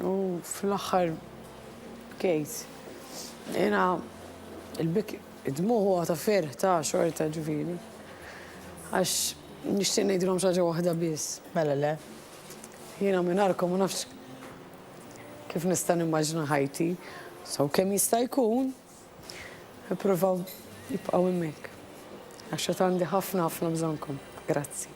U fl-aħħar Kate, jiena il-bik id-dmugħ huwa ta' ferħ ta' xorta ġifieri. Għax nixtieq ngħidilhom xaġa waħda biss. Mela le. Jiena mingħajrkom ma nafx kif nista' nimmaġina ħajti. So kemm jista' jkun Ippruvaw jibqgħu hemmhekk għax għad għandi ħafna ħafna bżonnkom. Grazzi.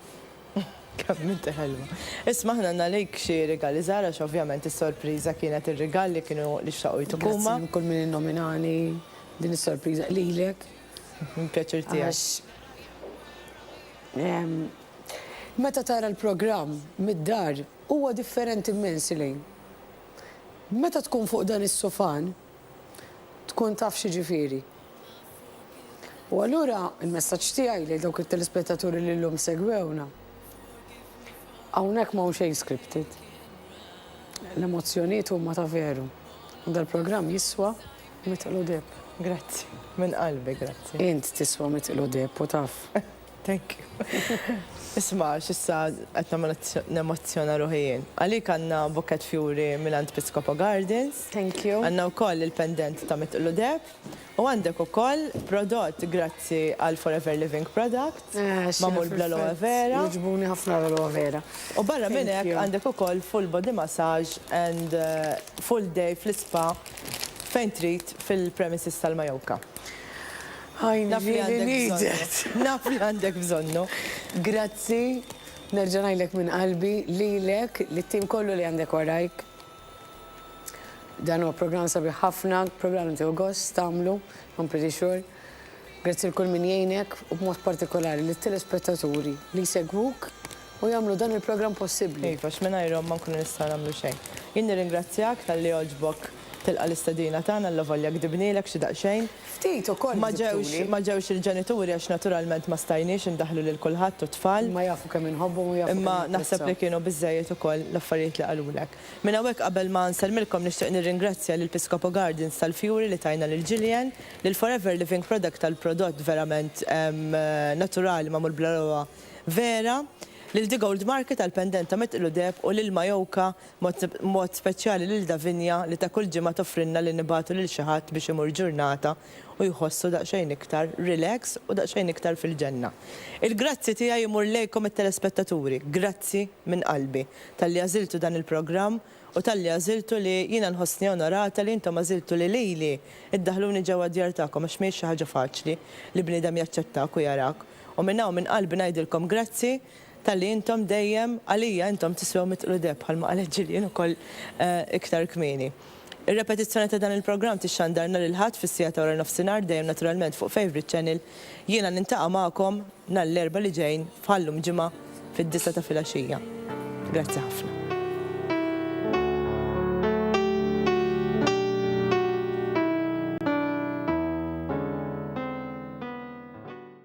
Kemm inti ħelwa. Isma' aħna għandna lejk xi rigali żgħar għax ovvjament is-sorpriża kienet ir-rigal li kienu li xtaqu jtuk huma. Grazzi lil kull min innominani din is-sorpriża lilek. Pjaċir tiegħi. Għax ehm, meta tara l-programm mid-dar huwa differenti immens li meta tkun fuq dan is-sufan tkun taf x'jiġifieri. U allura l-messaġġ tiegħi lil dawk it-telespettaturi li llum segwewna, hawnhekk m'hawn xejn scripted. L-emozzjonijiet huma ta' veru. U dal-programm jiswa mitqlu deheb. Grazzi, minn qalbi grazzi. Int tiswa mitqlu deheb u taf. Thank you. Isma' x'issa qed nagħmel nemozzjona ruħi jien. Għalik għandna bukett fjuri mingħand Piscopo Gardens. Thank you. Għandna wkoll il-pendent ta' Mitqlu Deheb u għandek ukoll prodott grazzi għal Forever Living Products magħmul bl-aloe vera. Jogħġbuni ħafna l-aloe vera. U barra minn hekk għandek ukoll full body massage and full day fl-ispa fejn trid fil-premises tal-Majorca. I really need it. Naf li għandek bżonnu. Grazzi, nerġa' ngħidlek minn qalbi, lilek, lit-tim kollu li għandek warajk. Dan huwa programm sabiħ ħafna, programm li tieħu gost tagħmlu, I'm pretty sure. Grazzi lil kull min jgħinek u b'mod partikolari lit-telespettaturi li jsegwuk u jagħmlu dan il-programm possibbli. Iva, għax mingħajrhom ma nkunu nistgħu nagħmlu xejn. Jien nirringrazzjak talli għoġbok tilqa' l-istedina tagħna allavolja gdibnielek xi daqsxejn. Ftit ukoll gdibtuli. Ma ġewx il-ġenituri għax naturalment ma stajniex indaħħlu lil kulħadd u t-tfal. Imma jafu kemm inħobbhom u jafu kemm napprezzahom. Imma naħseb li kienu biżżejjed ukoll l-affarijiet li qalulek. Minn hawnhekk qabel ma nsellmilkom nixtieq nirringrazzja lil Piscopo Gardens tal-fjuri li tajna lil Jillian, lil Forever Living Product tal-prodott verament naturali magħmul bl-għeluqa. Vera, lil The Gold Market għall-pendent ta' Met Iludeb u lil Mayoka b'mod speċjali lil Davinia li ta' kull ġimgħa toffrilna li nibagħtu lil xi ħadd biex imur ġurnata u jħossu daqsxejn iktar relax u daqsxejn iktar fil-ġenna. Il-grazzi tiegħi jmur lejkom it-telespettaturi. Grazzi minn qalbi talli għażiltu dan il-programm u talli għażiltu li jiena nħossni onorata li intom għażiltu li lili ddaħħluni ġewwa d-djar tagħkom għax mhijiex xi ħaġa faċli li bniedem jaċċettak u jarak U minn hawn minn qalbi ngħidilkom grazzi talli intom dejjem għalija intom tiswew mitt qludeb bħalma qalet Gillian ukoll iktar kmieni. Ir-repetizzjoni ta' dan il-programm tixxandar nhar il-Ħadd fis-siegħa ta' waranofsinhar dejjem naturalment fuq Favourite Channel. Jiena niltaqa' magħkom nhar l-Erbgħa li ġejn bħal-lum ġimgħa fid-disgħa ta' filgħaxija. Grazzi ħafna.